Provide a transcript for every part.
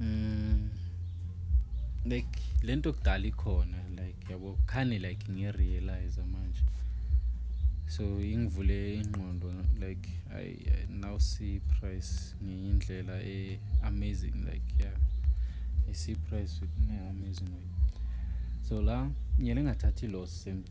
Mm. Like lento kudala ikhona like yabo khani like ngirealize manje. So ingivule ingqondo like I, I now see price ngenye indlela e amazing like yeah. I see price with amazing way. So la ngiyele ngathatha i loss same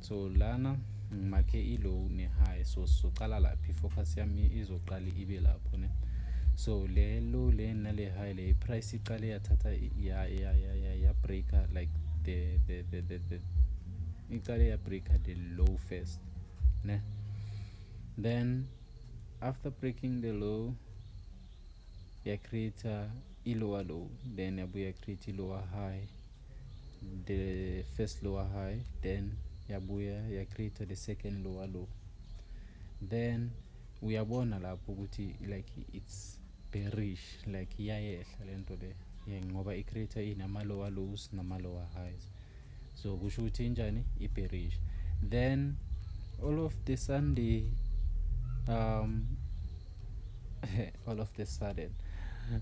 so lana ngimakhe i-low ne-high so sizoqala lapha i-focus yami izoqala ibe lapho ne so le low le nale high le i-price iqale yathatha ya-breaker like the, the, the, the, the iqale ya-breaker the low first ne then after breaking the low ya-creator i-lower low then yabuya create i-lower high the first lower high then yabuya ya create the second lower low then uyabona lapho ukuthi like it's bearish like iyayehla lento le yeah, ngoba i creator inama lower lows nama lower highs so kusho ukuthi injani i bearish then all of the sunday um all of the sudden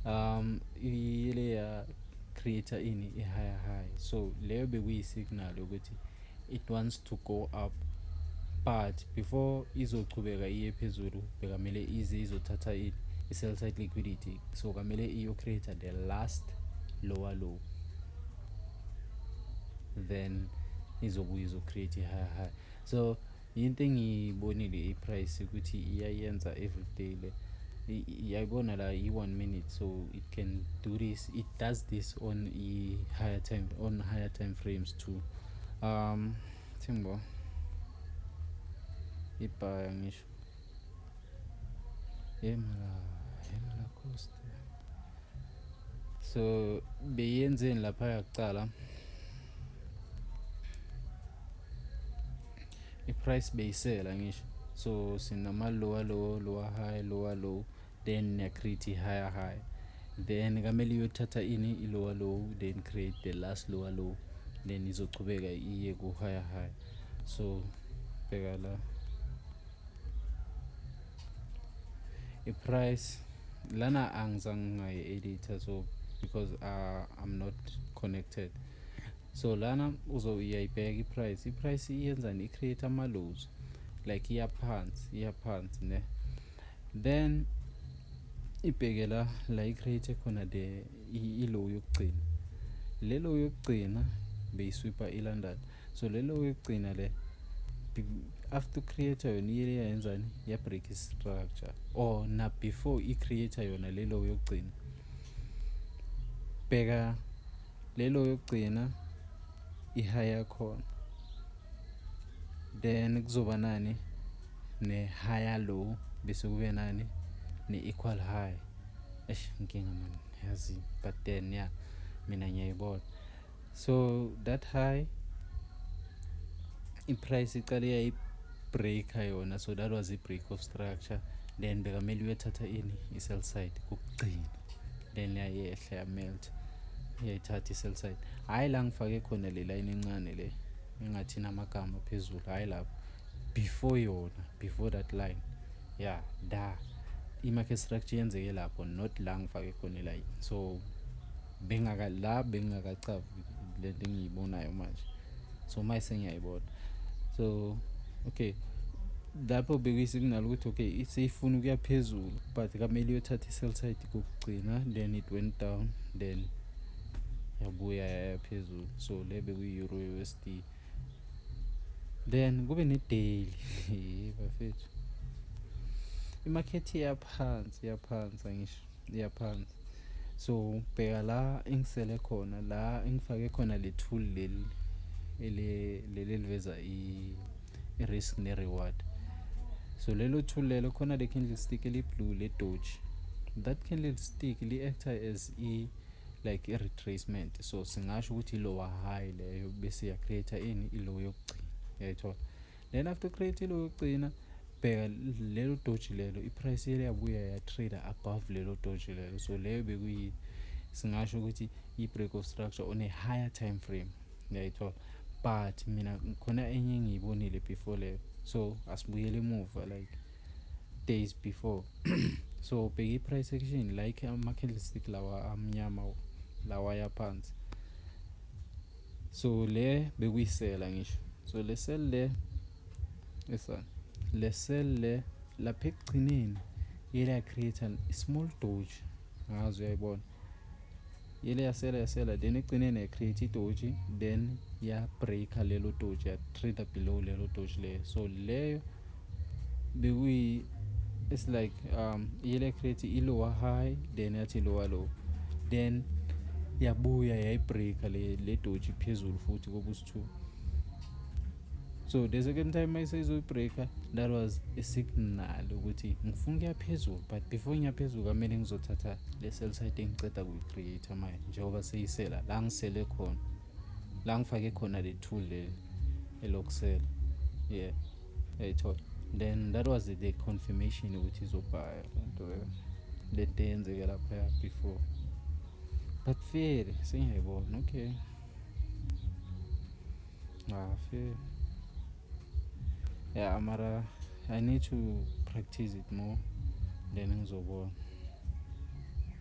um ile ya creator ini i-higher high so leyo bekuyi-signal yokuthi it wants to go up but before izochubeka iye phezulu bekamele ize izothatha i-sell side liquidity so kamele iyo-creator the last lower low then izobuye izocreate i-higher high so Into engiyibonile i-price ukuthi iyayenza everyday le. Iyayibona la i-one minute so it can do this. It does this on i-higher time on higher time frames too. Um thimbo ibhaya ngisho. Yemla, yemla cost. So beyenzeni lapha yakuqala? i-price beyisela ngisho so sinama lower low lower high lower low then niyacreate higher high then kamele iyothatha ini i-lower low then create the last lower low then izochubeka iye ku-higher high so bheka la i-price lana angizange ngayi-editha so because uh, i'm not connected so lana uzoyayibheka iprice iprice iyenzani icreate ama-lows like iyaphansi iyaphansi ne then ibheke la la icreate khona the ilow yokugcina le low yokugcina beyiswipa ilondon so le low yokugcina le after creator yona iyele yayenzani yabreak istructure or na before i-creator yona le low yokugcina bheka lelo yokugcina i-high yakhona then kuzoba nani ne-higher low bese kube nani ne-equal high eish nkinga mani yazi but then ya yeah, mina ngiyayibona so that high i-price iqale yayibreaker yona so that was i-break of structure then bekamele uyothatha ini i-sell side kokugcina then yayehla yamelt yayithatha i-cellside hhayi la ngifake khona le layini encane le engathi namagama phezulu hhayi lapho before yona before that line ya yeah, da i-market structure yenzeke lapho not la ngifake khona ilayini so bengaka la bengingakacavi le nto engiyibonayo manje so manje sengiyayibona so okay lapho bekuyisignal ukuthi okay seyifuna ukuya phezulu but kamele iyothatha i-cell side kokugcina then it went down then yabuya yaya phezulu so le bekuyi-euro usd then kube ne-daily bafethu imakhethi iyaphansi iyaphansi angisho iyaphansi so bheka la engisele khona la engifake khona le tool leli ele leli liveza i risk ne reward so lelo tool lelo khona le candle stick eli blue le doge that candle stick li actor as i like i retracement so singasho ukuthi ilowa high leyo bese ya create ini ilow yokugcina yayithola then after create lo yokugcina bheka lelo doji lelo iprice yele yabuya yatrader above lelo doji lelo so leyo bekuyi singasho ukuthi i-break of structure on a higher time frame ngiyayithola but mina khona enye engiyibonile before leyo so asibuyele emuva like days before so bheka i-price action like ama-candlestick lawa amnyama lawa yaphansi so le bekuyisela ngisho so le cell le esana le cell le lapha ekugcineni yela create a small doge ngazi uyayibona yele yasela yasela then ekugcineni ya create idoji then ya breaker lelo doji ya trader below lelo doji leyo so leyo bekuyi it's like um yile create ilower high then yathi lower low then yabuya yayibreaka le le doji phezulu futhi kobusi-two so the second time mayiseyizoyibreaka that was a signal ukuthi ngifuna ukuya phezulu but before ngiya phezulu kamele ngizothatha le cell site engiceda kuyi-create manje njengoba seyisela la ngisele khona la ngifake khona le tool leli elokusela yeah yayithola then that was the confirmation ukuthi izobhaya lento le nto eyenzeke laphaya before but fele sengiyayibona okay ngafe ah, yeah mara i need to practice it more then ngizobona